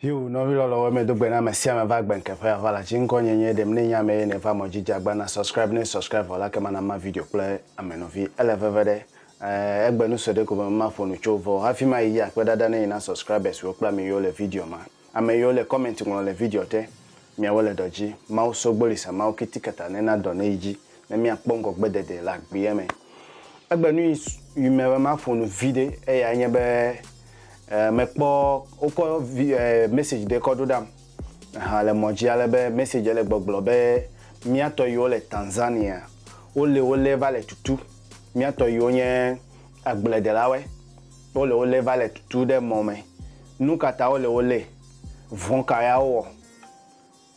Hiu nɔvi lɔlɔ wɔ me do gbe na me sia me va gbe nke ƒe avala tsi ŋkɔ nye nye ɖem ne nya me ye ne va mɔ jija gba na subscribe ne subscribe vɔ la ke mana ma video kple ame nɔvi ele veve ɖe eh, egbe nu sɔ ɖe ko be ma ƒo nu tso vɔ hafi ma yi akpe dada ne yi na subscribers wo kple ame yiwo le video ma Ame yiwo le comment ŋlɔ le video te, miawo le dɔ dzi. Mawu so gboli sa Mawu kitikata ne na dɔ ne yi dzi ne mia kpɔ ŋgɔ gbe dede le agbeɛ me. Egbe nu yi yi me be ma ƒo nu viɖe eyae nye be e me kpɔ wo kɔ vi e message ɖe kɔ ɖo ɖam ahan le mɔ dzi ale be message le gbɔgblɔ be mia tɔ yiwo le Tanzania wo le wo le va le tutu mia tɔ yiwo nye agble delawe. Wole wo lé va le tutu ɖe mɔ me. Nu ka ta wole wo lé? Vɔ̃ ka ya wowɔ?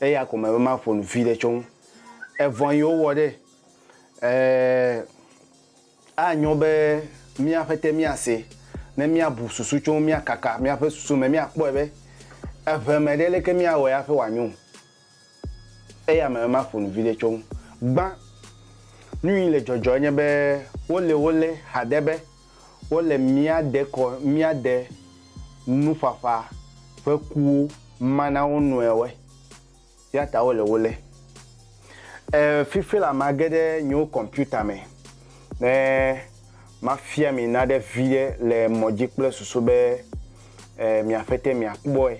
Eya ko mele be maƒo nu viɖe tso eŋu. Evɔ̃ yi wowɔ ɖe, e, anyo be míaƒe te míase ne míabu susu tso eŋu, míakaka míaƒe susu me, míakpɔe be eŋe me ɖe leke míawɔe hafi wòanyo. Eya me ma ƒonu viɖe tso ŋu gbã. Nuyi le dzɔdzɔ enye be wole wo le haɖe be wole mía dekɔ mía de nuƒaƒa ƒe kuwo ma na wo nɔewoe yata wole wo le. E fifi la ma geɖe nyewo kɔmputa me ne ma fia mi naɖe viɖe le mɔdzi kple susu be e mia ƒete mia kpɔe.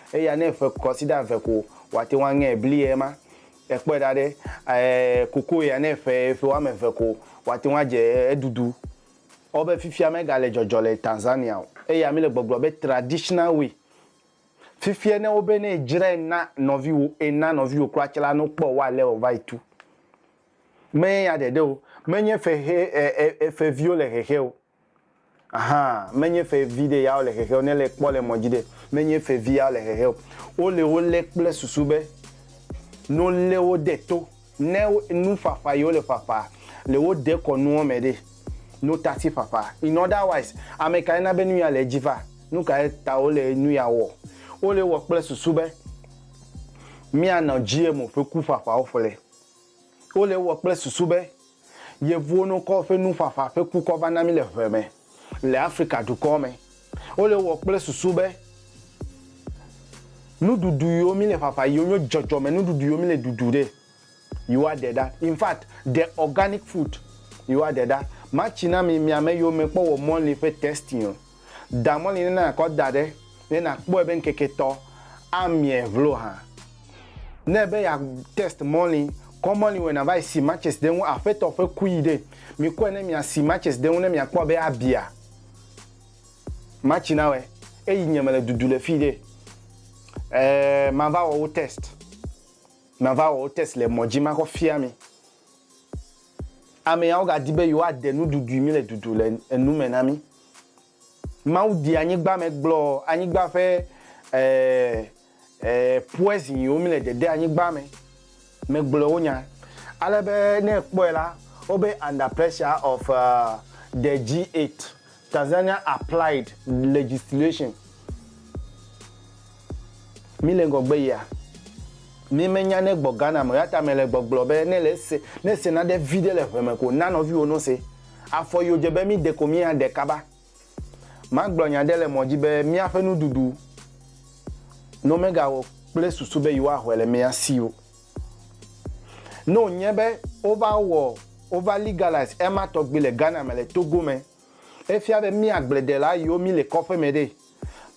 Eya ne ƒe kwasiɖa eve ko wòate ŋu aŋe bli ye ma. Ekpɔe ɖa ɖe, ɛɛ, kokoe ya ne ƒe ƒe woame eve ko wòate ŋu adze eɖuɖu. Wobe fifia megale dzɔdzɔ le Tanzania o. Eya mele gbɔgblɔ be traditional way. Fifia ne wobe ne edzrae na nɔviwò, ena nɔviwò kura tsɛ la, ne wokpɔ wò ale wòva yi tu. Menye ya ɖeɖe o. Menye ƒe ʋe, ɛɛ, ƒe viwo le hehe o. Aha, menye fe vi ɖe ya wole hehe o, ne le kpɔ le mɔ dzi ɖe, menye fe vi ya wole hehe o. Wo le wo le kple susu be, ne wo le wo de to, ne nu ƒaƒa yi wo le ƒaƒa le wo de kɔ nuɔ me ɖe, ne wo tasi ƒaƒa. In other wise, ame kae na be nu ya le edzi va? Nu kae ta wo le nu ya wɔ? Wo le wɔ kple susu be, mía nɔ GMO ƒe ku ƒaƒawo ƒle. Wole ewɔ kple susu be Yevuwo nokɔ woƒe nuƒaƒa ƒe kukɔ va na mí le ʋe me le Afrika dukɔ me. Wole ewɔ kple susu be nuɖuɖu yiwo mí le ƒaƒa yiwo nyo dzɔdzɔme nuɖuɖu yiwo mí le ɖuɖu ɖe, yewoa ɖe ɖa. In fact, the organic food, yewoa ɖe ɖa. Matsi na mi, miame yewo me kpɔ wɔ mɔli ƒe testing. Da mɔ li ne nàkɔ da ɖe ne nàkpɔe be ŋkeke etɔ̃ amie vlo hã. Ne ebe ya test mɔ li, kɔ mɔ li wɛ nava yi si matches ɖe ŋu Aƒetɔ ƒe kui ɖe. Mikɔe ne mia si matches ɖe ŋu ne miakpɔ be abia match na wɛ eyi nye mele dudu le fii ɖe. Ɛɛ, mava wɔ wo test. Mava wɔ wo test le mɔ dzi makɔ fia mi. Ameawo ga di be yewoa de nuɖuɖui mi le dudu le enu me na mi. Mawu di anyigba me gblɔ anyigba ƒe poison yiwo mi le dede anyigba me me gblɔ wo nya. Ale be ne ekpɔe la, wo be under pressure of the G8, Tanzania applied legislation. Míle ŋgɔgbe yia. Mí me nya ne gbɔ Ghana me o yata me le gbɔgblɔ be ne le se ne se naɖe viɖe le ʋe me ko na nɔviwo no se. Afɔ yi odze be mí de ko mí a ɖe kaba. Ma gblɔ nya ɖe le mɔ dzi be mía ƒe nuɖuɖu no me ga wo kple susu be yi wa hɔɛ le mía si o. Ne o nye be wo va wɔ wo va legalize ema tɔgbi le Ghana me le Togo me, e fia be mí agble ɖe la yi wo mí le kɔƒe me ɖe.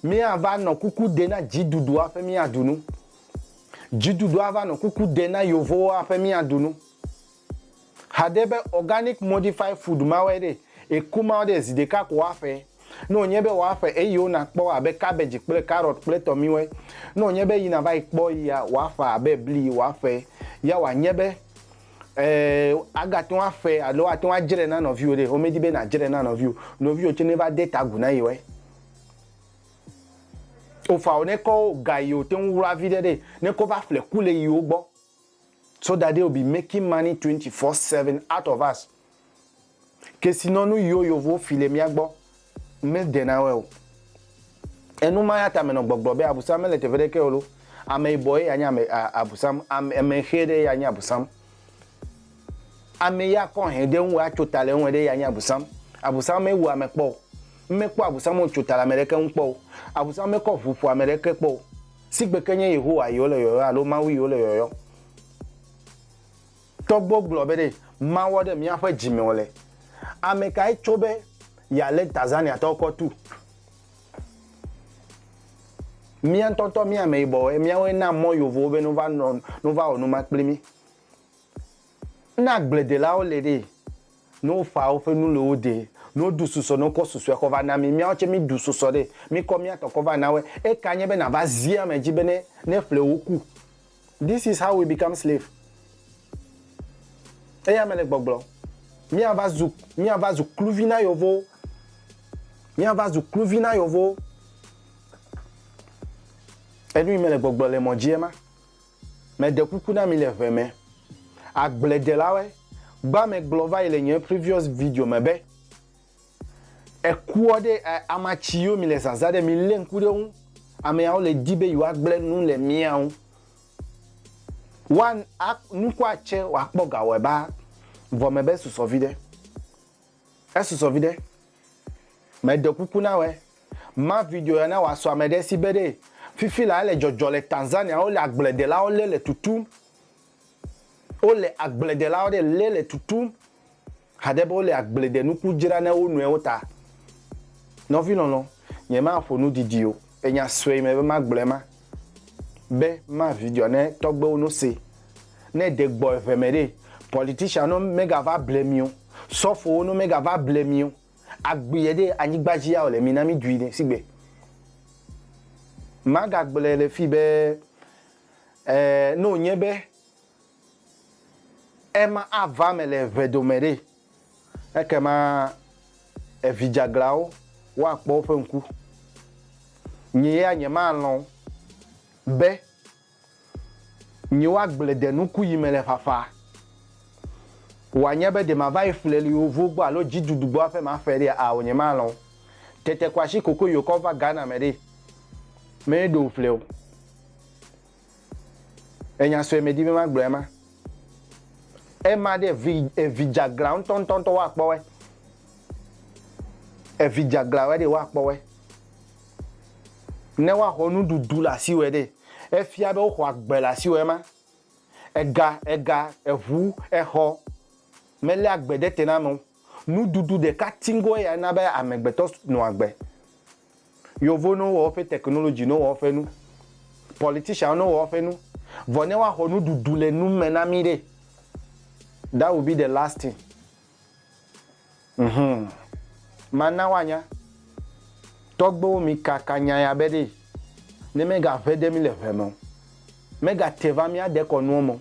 Míava nɔ kuku ɖe na dziɖuɖu hafi míaɖu nu. Dziɖuɖu ava nɔ kuku ɖe na yevowo hafi míaɖu nu. Haɖe be organic modified food mawɔe ɖe eku mawo ɖe zi ɖeka ko woaƒe. Ne wònye be woaƒe eyiwo nakpɔ abe cabbage kple carrot kple tɔmiwe. Ne wònye be yi nava yi kpɔ yia, woaƒa abe bli, woaƒe ya wòanye be. Eee, agate ŋu aƒe alo ate ŋu adzre na nɔviwò ɖe. Womedi be nàdzre na nɔviwò, nɔviwò tsɛ neva de ta agu na yewoe. Ofao ne kɔ ga yi wòte ŋu wla viɖe ɖe, ne kɔ va ƒle ku le yewo gbɔ, so that they will be making money twenty four seven out of us. Kesinɔnu yiwo yovowo fi le mía gbɔ mede na wɔe o. Enu ma ya ta menɔ gbɔgblɔ be Abusam mele teƒe ɖeke o lo. Ame yibɔ ye ya nye ame a, Abusam, ame, ame ʋɛ ɖe ye ya nye Abusam. Ame yi akɔ hɛn ɖe ŋu atso ta le eŋue ɖe ye ya nye Abusam. Abusam mewu ame kpɔ o. Ŋmekpɔ Abusam wòtso ta le ame ɖeke ŋu kpɔ o. Abusam mekɔ ʋu ƒo ame ɖeke kpɔ o. Sigbe ke nye Yehowa yi wole yɔyɔ alo Mawu yi wole yɔyɔ. Tɔgbuiwo gblɔ be ɖe mawɔ ɖe míaƒe dzi me o le. Ame kae tso be yealé Tanzaniatɔwo kɔ tu? Mía ŋutɔ ŋutɔ mía ameyibɔwoe, míawoe na mɔ Yovowo be nova nɔ, nova wɔ nu ma kpli mí. Ne agbledelawo li ɖee, Ne wofa woƒe nu le wo de, ne woɖu susɔ ne wokɔ susɔe kɔ va na mi, míawo tsɛ míɖu susɔ ɖe, míkɔ mía tɔ kɔ va na woe. Eka nye be nàva zi ame dzi bene ne ƒle woku. This is how we become slave. Eya mele gbɔgblɔm. Míava zu, míava zu kluvi na yevowo. Míava zu kluvi na yevowo. Enu yi mele gbɔgblɔ le mɔ dzi ema. Meɖe kuku na mi le ʋe me. Agbledelawe gba me gblɔ va yi le nyɔɛ previous video me be, ekuɔ ɖe ɛ ama ci yo mi le zaza ɖe mi le ŋku ɖe ŋu, ameawo le di be yewoa gble nu le mia ŋu. Woa a nukua cɛ wa kpɔ gawɔɛ baa vɔ me be susɔ viɖe. Esusɔ viɖe. Me ɖe kuku na wɛ ma video ya na wa sɔ ame ɖe si be ɖee. Fifi la ele dzɔdzɔ le Tanzania wo le agble ɖe lawo le le tutum. Wo le agble ɖe lawo ɖe le le tutum haɖe be wo le agble ɖe nuku dzra ne wo nɔewo ta. Nɔvi lɔlɔ, nye ma ƒo nu didi o. E nya sue me be ma gblɔe ma, be ma video ne tɔgbewo no se. Ne de gbɔ eve me ɖe, politician no me ga va ble mi o, sɔfowo no me ga va ble mi o, agbeɛ ɖe anyigba dzi ya o le mi na mi dui ɖe sigbe. Ma ga gblɔe le fi be, eh, no nye be, ema a va me le eve dome ɖe, Ekema evidzeaglãwo woakpɔ woƒe ŋku. Nye ya nyemalɔ̃ be nye woagblẽ de nuku yi mele ƒaƒã, wòanye be ɖe mava yi ƒleliwo vo gbɔ alo dziɖuɖu gbɔ hafi maƒe ɖea? Ao, nyemalɔ̃ o. Tete ko asi kokoyokɔ va Ghana me ɖee. Meɖo ŋu ƒleo. Enya sue medi be magblɔe ma. Ema ɖe evi evi dzaglã ŋutɔŋutɔŋutɔ woakpɔwɔe. Evi dzaglãwɔe ɖe woakpɔwɔe. Ne woaxɔ nuɖuɖu le asiwɔe ɖe, efia be woxɔ agbe le asiwɔe ma. Ega, ega, eʋu, exɔ meléa agbe ɖe te na amewo. Nuɖuɖu ɖeka tiŋkɔe ya na be amegbetɔ nɔ agbe. Yevowo ne wowɔ woƒe technology, ne wowɔ woƒe nu, politicianwo ne wowɔ woƒe nu, vɔ ne woaxɔ nuɖuɖu le nu me na mí ɖe, that will be the last thing. Mhum. Mana woanya. Tɔgbewo mikaka nya ya be ɖe, ne megaʋe ɖe mí le ʋe me o, megate va míade kɔ nuwo me o.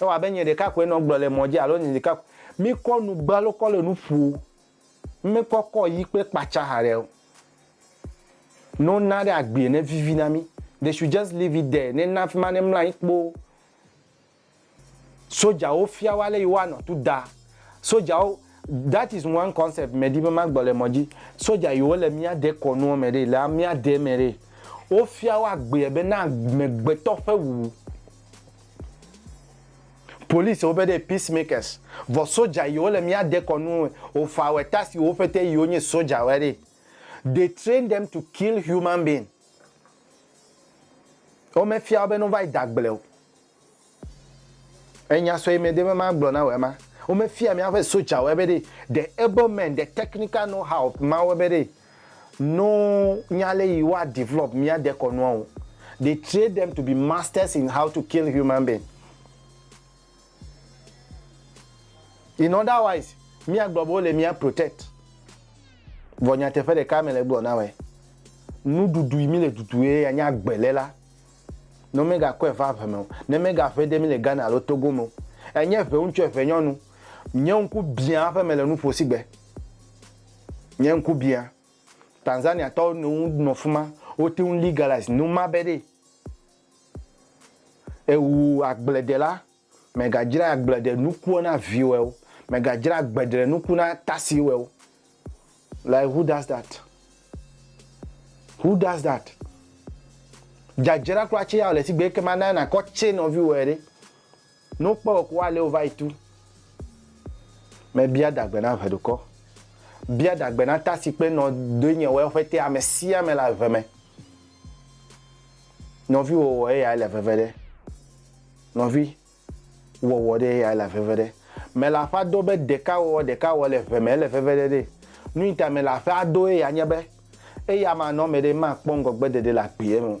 Ewɔ abe nye ɖeka koe nɔ gblɔ le mɔ dzi alo nye ɖeka koe. Mi kɔ nu gbe alo kɔ le nu ƒo o. Ŋme kɔ kɔ yi kpe kpatsa haɖe o. Ne wo na ɖe agbee ne vivi na mi. They should just leave it there ne na fima ne mla anyi kpoo. Soja wo fia wo ale yi woa nɔ tu da. Soja wo, that is one concept me ɖi be ma gblɔ le mɔ dzi. Soja yi wo le mía de kɔnuɔ me ɖe, le amea de me ɖe, wo fia wo agbee be na amegbetɔ ƒe wuwu. Police wo be ɖe peace makers vɔ soja yi wo le mía dekɔ nu o fa wɛ ta si wo ƒete yi wo nyi soja wɛ ɖe they train them to kill human being wo me fia wo be no va yi da gble o enya sɔ yi me de be ma gblɔ na wɛ ma wo me fia mía ƒe soja wɛ be ɖe the able men the technical know how ma wo be ɖe No nya le yi wa develop mía dekɔnua o. They train them to be masters in how to kill human being. In other wise, mía gblɔ be wo le mía protect. Vɔ nyateƒe ɖeka me le gblɔ na wɛ. Nuɖuɖu yi mi le ɖuɖu ye ya nye agbe le la. Ne wo me ga kɔe va ʋe me o. Ne me ga ʋe de mi le Ghana alo Togo me o. Enye ʋe ŋutsu ʋe nyɔnu. Nye ŋku biã aƒe me le nuƒo sigbe. Nye ŋku bia. Tanzania tɔwo no ŋu nɔ fima. Wo te ŋu legalize nu ma be ɖe ewu agbledɛ la, mɛ ga djra agbledɛ nukuɔ na viwɛ o, mɛ ga djra agbedre nuku na tasi wɛ o. Like who does that? Who does that? Djadjra kura tse ya o le sigbe ekema na na kɔ tse nɔviwɛ ɖe. Ne wokpɔ wò ko woalé wò va yi tu me. Bia dagbe na ʋeɖukɔ. Bia dagbe na ta si kpe nɔ doe nye wɔe ƒe te ame sia ame le ave me. Nɔvi wɔ wɔ eyae le veve ɖe. Nɔvi wɔ wɔ ɖe eyae le veve ɖe. Mele aƒea do be ɖeka wɔ wɔ ɖeka wɔ le ʋe me ele veve ɖe ɖe. Nuyita mele aƒea do eya nye be eya ma nɔ me ɖe ma kpɔ ŋgɔgbe ɖeɖe le agbeɛ me o.